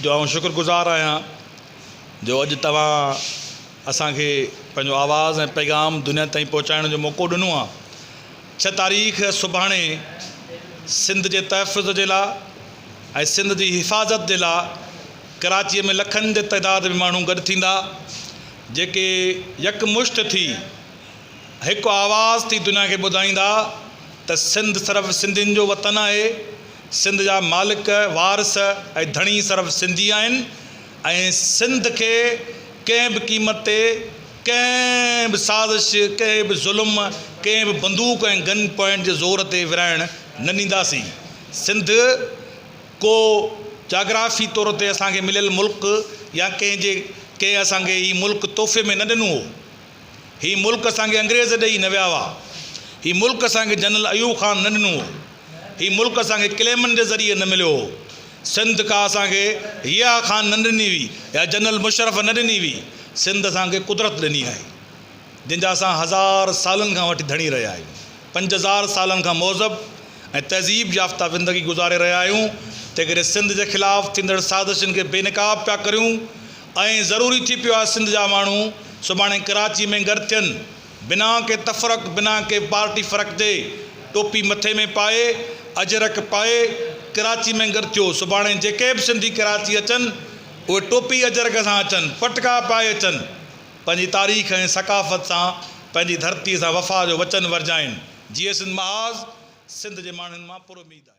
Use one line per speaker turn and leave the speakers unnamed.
جو آئون شڪر گذار آهيان جو اڄ توهان اسان کي پنهنجو آواز ۽ پيغام دنيا تائين پهچائڻ جو موقعو ڏنو آهي ڇهه تاريخ سڀاڻي سنڌ جي تحفظ جي لاء ۽ سنڌ جي حفاظت جي لاء ڪراچي ۾ لکن جي تعداد ۾ ماڻهو گڏ ٿيندا جيڪي يڪمشت ٿي هڪ آواز ٿي دنيا کي ٻڌائيندا ته سنڌ صرف سنڌين جو وطن آهي، سنڌ جا مالڪ، وارث ۽ ڌڻي صرف سنڌي آهن ۽ سنڌ کي ڪنهن به قيمت تي ڪنهن به سازش، ڪنهن به ظلم، ڪنهن به بندوق ۽ گن پوائنٽ جي زور تي ورهائڻ نه ڏينداسين. سنڌ ڪو جاگرافي طور تي اسان کي مليل ملڪ يا ڪنهن جي ڪنهن اسان کي هي ملڪ تحفي ۾ نه ڏنو هو. هي ملڪ اسان کي انگريز ڏئي نه ويا هئا. هي ملڪ اسان کي جنرل ايوب خان نه ڏنو هو. هي ملڪ اسان کي ڪليمن جي ذريعي نه مليو هو. سنڌ ڪا اسان کي ضياء خان نه ڏني هئي يا جنرل مشرف نه ڏني هئي. سنڌ اسان کي قدرت ڏني آهي. جنهن جا اسان هزار سالن کان وٺي ڌڻي رهيا آهيون. پنج هزار سالن کان مهذب ۽ تهذيب يافته زندگي گذاري رهيا آهيون. تنهنڪري سنڌ جي خلاف ٿيندڙ سازشن کي بي نقاب پيا ڪريون. ائين ضروري ٿي پيو آهي سنڌ جا ماڻهو سڀاڻي ڪراچي ۾ گڏ ٿين بنا ڪنهن تفرق بنا ڪنهن پارٽي فرق جي ٽوپي مٿي ۾ پائي اجرڪ پائي ڪراچي ۾ گڏ ٿيو سڀاڻي جيڪي به سنڌي ڪراچي اچن اهي ٽوپي اجرڪ سان اچن پٽڪا پائي اچن پنهنجي تاريخ ۽ ثقافت سان پنهنجي ڌرتي سان وفا جو وچن ورجائين جيئي سنڌ محاذ سنڌ جي ماڻهن مان پر اميد آهي.